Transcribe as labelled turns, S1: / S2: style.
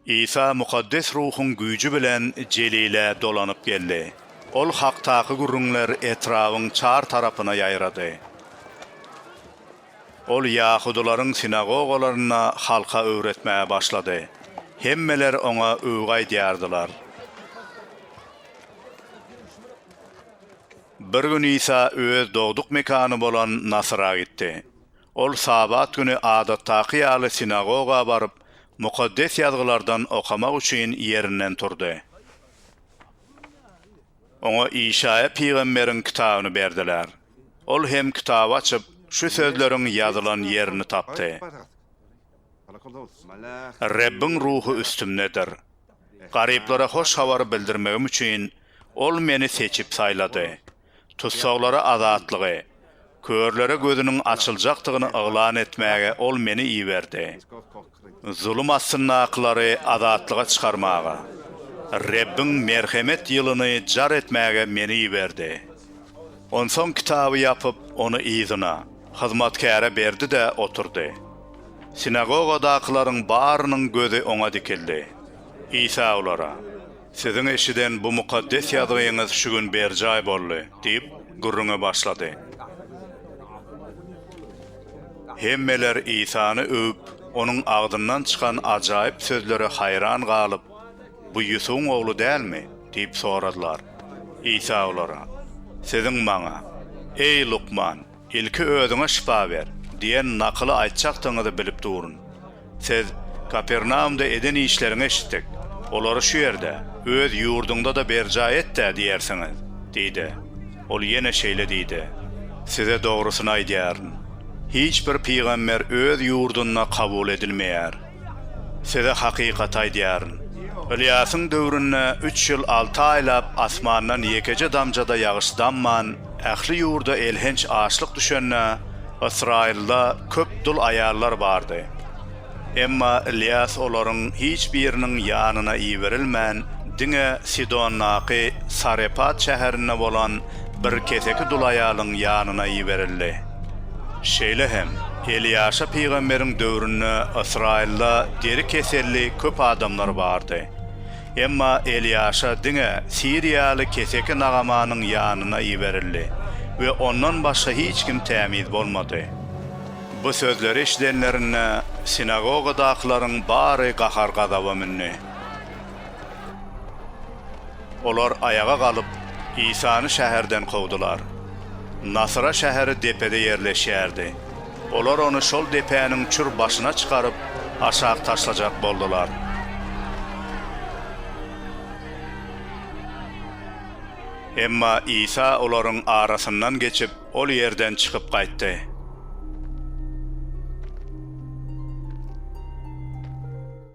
S1: Isa Mukaddes Ruhuň güýji bilen Jelile dolanyp geldi. Ol hakdaky gürrüňler etrabyň çar tarapyna ýaýrady. Ol ýahudylaryň sinagogalarynda halka öwretmäge başlady. Hemmeler oňa öwgi aýdýardylar. Bir gün Isa öz dogduk mekany bolan Nasyra gitdi. Ol Sabat güni adatdaky ýaly sinagoga baryp, Mukaddes Ýazgylardan okamak üçin ýerinden turdy. Oňa Işaýa pygamberiň kitabyny berdiler. Ol hem kitaby açyp, şu sözleriň ýazylan ýerini tapdy, Rebbiň Ruhy üstümdedir. Garyplara hoş habary bildirmegim üçin Ol meni seçip saýlady. Tussaglara azatlygy, körlere gözüniň açyljakdygyny yglan etmäge Ol meni iberdi. Zulum astyndakylary azatlyga çykarmaga, Rebbiň merhemet ýylyny jar etmäge meni iberdi. Onsoň kitaby ýapyp, ony yzyna, hyzmatkäre berdi-de oturdy. Sinagogadakylaryň barynyň gözi oňa dikildi. Isa olara. Siziň eşiden bu mukaddes ýazgyňyz şu gün berjaý boldy, diýip, gürrüňe başlady. Hemmeler Isany öwüp, onuň agzyndan çykan ajaýyp sözlere haýran galyp, Bu Ýusubyň ogly dälmi? diýip soradylar. Isa olara, Siziň maňa, Eý, lukman! Ilki özüňe şypa ber! diýen nakyly aýtjakdygyňyzy bilip durun. Siz Kapernaumda eden işleriňi eşitdik. Olary şu ýerde, öz ýurduňda-da berjaý et-dä diýersiňiz! diýdi. Ol ýene şeýle diýdi, Size dogrusyny aýdýaryn, hiç bir pygamber öz ýurdunda kabul edilmeýär. Size hakykaty aýdýaryn. Ylýasyň döwründe üç ýyl alty aýlap asmandan ýekeje damja-da ýagyş damman, ähli ýurda elhenç açlyk düşende, Ysraýylda köp dul aýallar bardy. Emma Ylýas olaryň hiç biriniň ýanyna iberilmän, diňe Sidondaky Sarepat şäherinde bolan bir keseki dul aýalyň ýanyna iberildi. Şeýle hem, Elýaşa pygamberiň döwründe Ysraýylda deri keselli köp adamlar bardy. Emma Elýaşa diňe siriýaly keseki Nagamanyň ýanyna iberildi we ondan başga hiç kim tämiz bolmady. Bu sözleri eşidenlerinde, sinagogadakylaryň bary gahar-gazaba mündi. Olar aýaga galyp, Isany şäherden kowdular. Nasyra şäheri depede ýerleşýärdi. Olar ony şol depäniň çür başyna çykaryp, aşak taşlajak boldular. Emma Isa olaryň arasyndan geçip, ol ýerden çykyp gaýtdy.